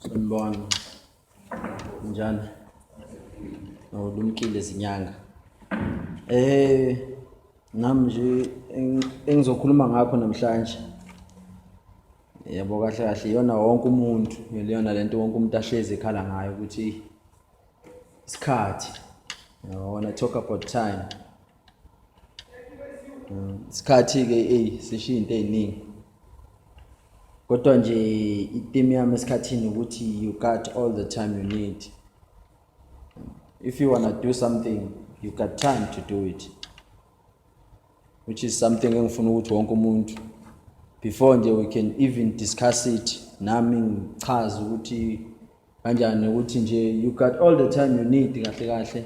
Sanibona. Njani? Awulumkile izinyanga. Eh nami nje engizokhuluma ngakho namhlanje. Yebo kahle kahle iyona wonke umuntu, iyona lento wonke umuntu ahlezi ekhala ngayo ukuthi isikhathi. Yabona talk about time. isikhathi ke ey sishiya into eziningi kodwa nje iteam yami esikhathini ukuthi you got all the time you need if you want to do something you got time to do it which is something engifuna ukuthi wonke umuntu before nje we can even discuss it nami ngichaze ukuthi kanjani ukuthi nje you got all the time you need kahle kahle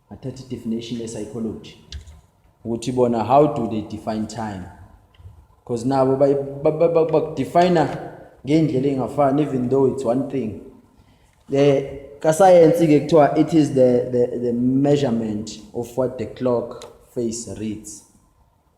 athatha i-definition ye-psychology ukuthi bona how do they define time because nabo bakudefina ngey'ndlela ey'ngafani even though it's one thing um kasayensi-ke kuthiwa it is the, the, the measurement of what the clock face reads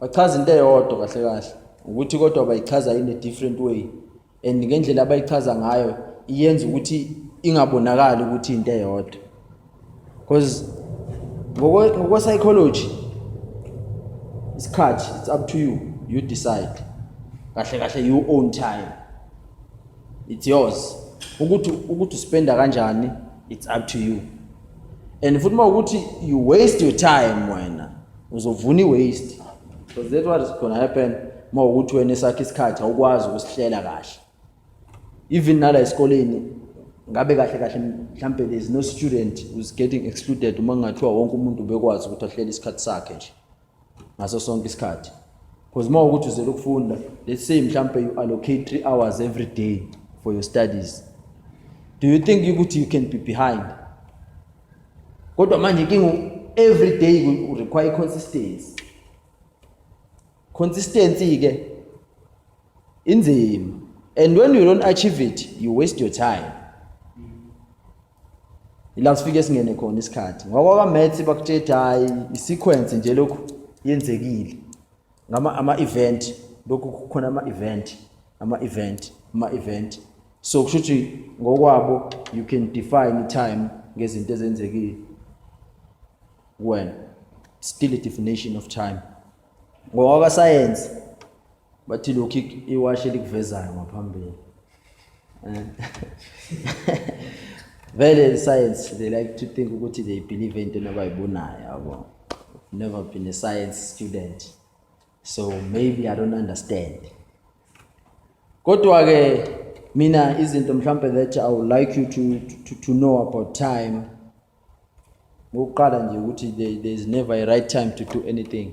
bachaza into eyodwa kahle kahle ukuthi kodwa bayichaza in a different way and ngendlela abayichaza ngayo iyenza ukuthi ingabonakali ukuthi into eyodwa because ngokwe psychology isikhathi it's up to you you decide kahle kahle you own time it's yours ukuthi ukuthi uspenda kanjani it's up to you and futhi uma ukuthi you waste your time wena uzovuna i-waste because that's what is gonna happen uma ukuthi wena esakhe isikhathi awukwazi ukusihlela kahle even nala esikoleni ngabe kahle kahle mhlampe there is no student who's getting excluded uma kungathiwa wonke umuntu bekwazi ukuthi ahlele isikhathi sakhe nje ngaso sonke isikhathi because uma ukuthi uzele ukufunda let's say mhlampe you allocate three hours every day for your studies do you think ukuthi you can be behind kodwa manje kingu every day ku require consistency consistency ke inzima and when you don't achieve it you waste your time ila sifike singene khona isikhathi ngoba ka maths bakutshela hayi i sequence nje lokhu yenzekile ngama ama event lokhu kukhona ama event ama event ama event so kusho ukuthi ngokwabo you can define time ngezinto ezenzekile when still a definition of time ngokwakasayensi bathi lokhu iwashi elikuvezayo ngaphambili vele science they like to think ukuthi they believe into nabayibonayo yabo never been a science student so maybe i don't understand kodwa ke mina izinto mhlambe that i would like you to, to, to know about time ngokuqala nje ukuthi there is never a right time to do anything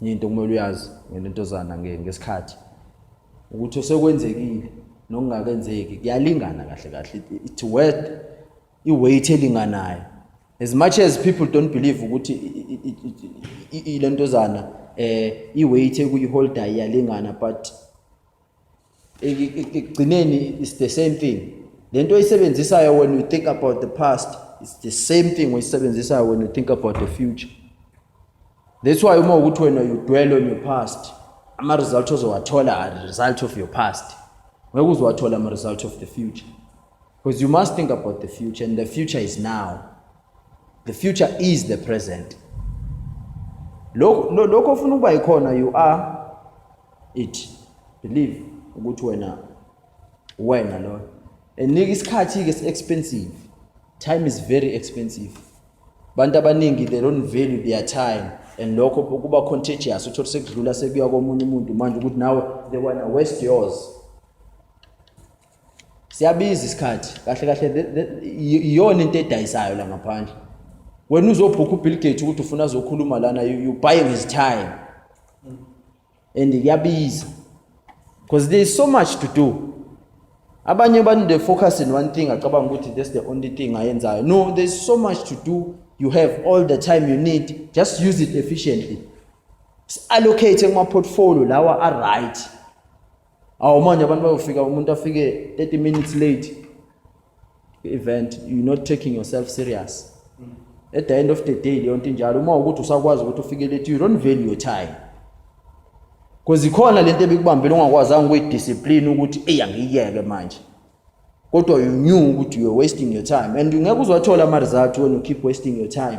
enye into kumele uyazi ngentontozana ngesikhathi ukuthi osekwenzekile nokungakenzeki kuyalingana kahle kahle it worth iweight elinganayo as much as people don't believe ukuthi ilentozana eh iweight ekuyiholder iyalingana but ekugcineni it's the same thing lento oyisebenzisayo when you think about the past it's the same thing oyisebenzisayo when you think about the future that's why uma ukuthi wena you dwell on your past ama result ozowathola are result of your past ngeke uzowathola ama result of the future Because you must think about the future and the future is now. The future is the present. Lokho ofuna ukuba yikhona you are it. Believe ukuthi wena wena lo. And isikhathi ke si expensive. Time is very expensive. Bantu abaningi they don't value their time and lokho kuba contagious uthola sekudlula sekuya komunye umuntu manje ukuthi nawe they wanna waste yours siyabiza isikhathi kahle kahle iyona into edayisayo la ngaphandle wena uzobhukha ubill gate ukuthi ufuna azokhuluma lana you buying his time and kuyabiza because there is so much to do abanye abantu they focus in one thing acabanga ukuthi that's the only thing ayenzayo no there is so much to do you have all the time you need just use it efficiently allocate kuma-portfolio lawa a-right awu manje abantu bayofika umuntu afike 30 minutes late event you not taking yourself serious at the end of the day leyo nto injalo uma ukuthi usakwazi ukuthi ufike late you don't value your time because ikhona lento ebikubambile ungakwazanga ukuyidiscipline ukuthi eyi angiyiyeke manje kodwa you knew ukuthi you're wasting your time and ngeke uzwathola ama-result when you keep wasting your time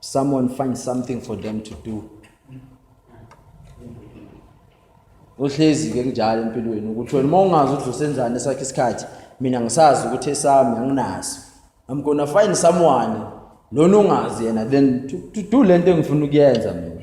Someone find something for them to do. Uhlezi ke kunjalo empilweni ukuthi wena uma ungazi ukuthi usenzani esakhe isikhathi mina ngisazi ukuthi esami anginaso. I'm gonna find someone lona ungazi yena then to, to do lento engifuna ukuyenza mina.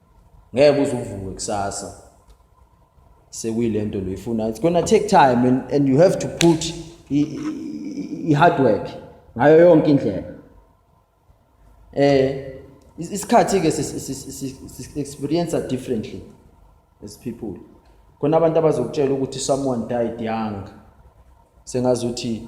ngeke uze uvuke kusasa sekuyilento lo ifuna it's gonna take time and, and you have to put i hard work ngayo yonke indlela eh isikhathi ke experience differently as people khona abantu abazokutshela ukuthi someone died young sengazuthi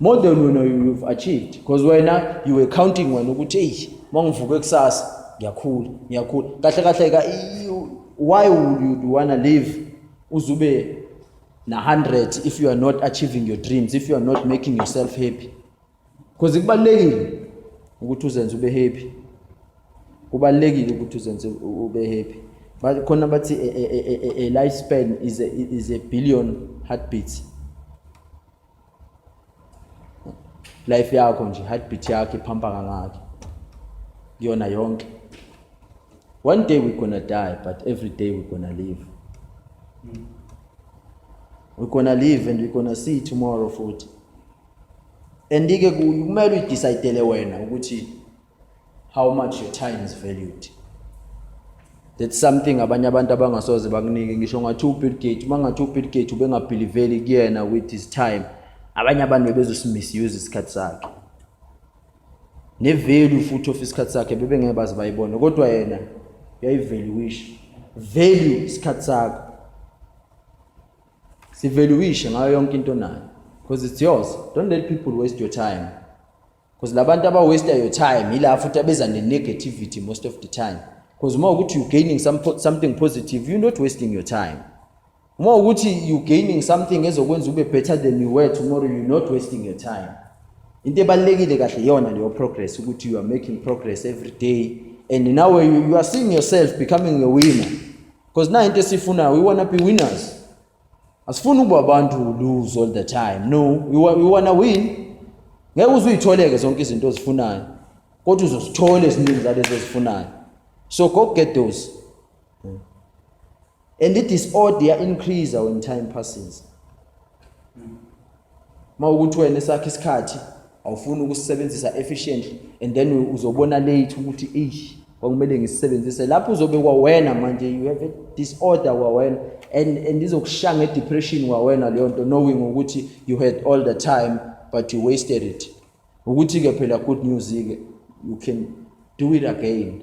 more than wena you've achieved because wena you were counting wena ukuthi eyi uma ngivuke kusasa ngiyakhula ngiyakhula kahle kahle ka why would you do wanna live uzube na 100 if you are not achieving your dreams if you are not making yourself happy because kubalekile ukuthi uzenze ube happy kubalekile ukuthi uzenze ube happy but khona bathi a, a, a, a life span is a, is a billion heartbeats life yakho nje heartbeat yakho iphampa kangaki kuyona yonke one day we're gonna die but every day we're gonna live mm. we're gonna live and we're gonna see tomorrow futhi andike kumele uyidecidele wena ukuthi how much your time is valued that's something abanye abantu abangasoze bakunike ngisho ngathi ubill gate uma ngathi ubill gate ubengabhiliveli kuyena with his time abanye abantu bebezosimisuze isikhathi sakhe nevalue futhi of isikhathi sakhe bebengeke baze bayibone kodwa yena uyayivaluisha value isikhathi sakho sivaluishe ngayo yonke into nayo because it's yours don't let people waste your time because labantu aba waste your time yila futhi abeza ne negativity most of the time because uma ukuthi you gaining some, something positive you not wasting your time uma ukuthi you gaining something ezokwenza ube better than you were tomorrow you not wasting your time into ebalekile kahle iyona leyo progress ukuthi you are making progress every day and now you, you are seeing yourself becoming a winner because na into esifunayo we want to be winners asifuni ukuba abantu lose all the time no we, we wanna win ngeke uzuyitholeke zonke izinto ozifunayo kodwa uzosithola eziningi zalezo ozifunayo so go get those and the disorder increase when time passes Uma ukuthi wena esakhe isikhathi awufuni ukusisebenzisa efficiently and then uzobona late ukuthi eish kwakumele ngisisebenzise lapho uzobe kwawena manje you have a disorder kwawena and and izokushaya ngedepression kwawena leyo nto knowing ukuthi you had all the time but you wasted it ukuthi ke phela good news ke you can do it again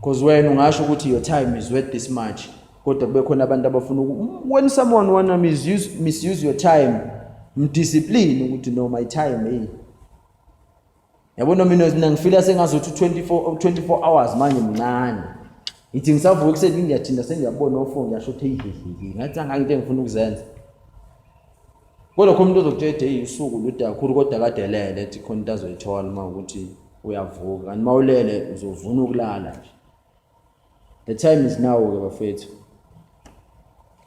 Cause wena ungasho ukuthi your time is worth this much kodwa kube khona abantu abafuna when someone wanna misuse, misuse your time mdiscipline ukuthi no my time hey yabo noma mina ngifila sengazothi 24 24 hours manje mncane ngithi ngisavuka ekuseni ngiyathinda sengiyabona ofo ngiyasho ukuthi eyihehehe ngathi angangento engifuna ukuzenza Kodwa khona umuntu ozokutshela ethi eyi usuku lude kakhulu kodwa kade elele ethi khona into azoyithola uma ukuthi uyavuka kanti uma ulele uzovuna ukulala nje the time is now-ke bafethu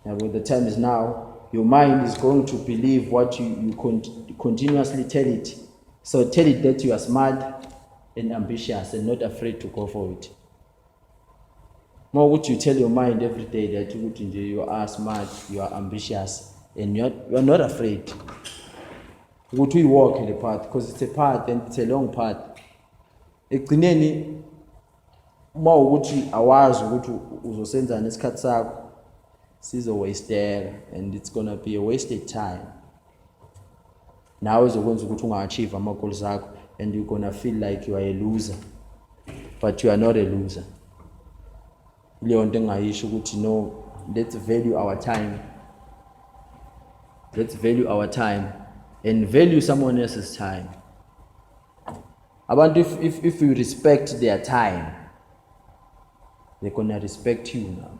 yabo the time is now your mind is going to believe what you, you cont continuously tell it so tell it that you are smart and ambitious and not afraid to go for it uma ukuthi you tell your mind every day that ukuthi nje you are smart you are ambitious and you are, you are not afraid ukuthi uyiwalke le path because it's a path and it's a long path ekugcineni uma ukuthi awazi ukuthi uzosenzani isikhathi sakho sizowasteka and it's gonna be a wasted time nawe zokwenza ukuthi unga-achieve ama-goals akho and you're gonna feel like you are a loser but you are not a loser leyo nto engingayisho ukuthi no let's value our time let's value our time and value someone else's time abantu if, if, if you respect their time they're gonna respect you now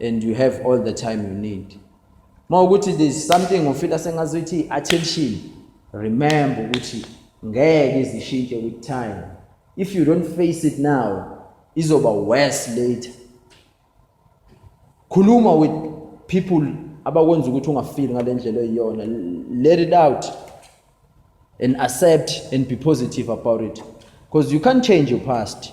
and you have all the time you need uma ukuthi there's something ufila sengazi ukuthi i-attention remember ukuthi ngeke izishintshe with time if you don't face it now izoba worse later khuluma with people abakwenza ukuthi ungafili ngale ndlela eyiyona let it out and accept and be positive about it because you can't change your past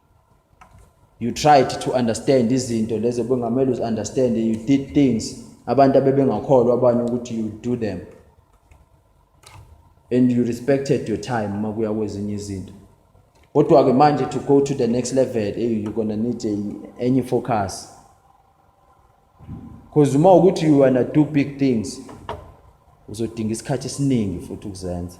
you tried to understand izinto lezo bengamele uzi understand you did things abantu abebengakholwa abanye ukuthi you do them and you respected your time uma kuya kwezinye izinto kodwa ke manje to go to the next level hey you gonna need a, any focus because uma ukuthi you wanna do big things uzodinga isikhathi esiningi futhi ukuzenza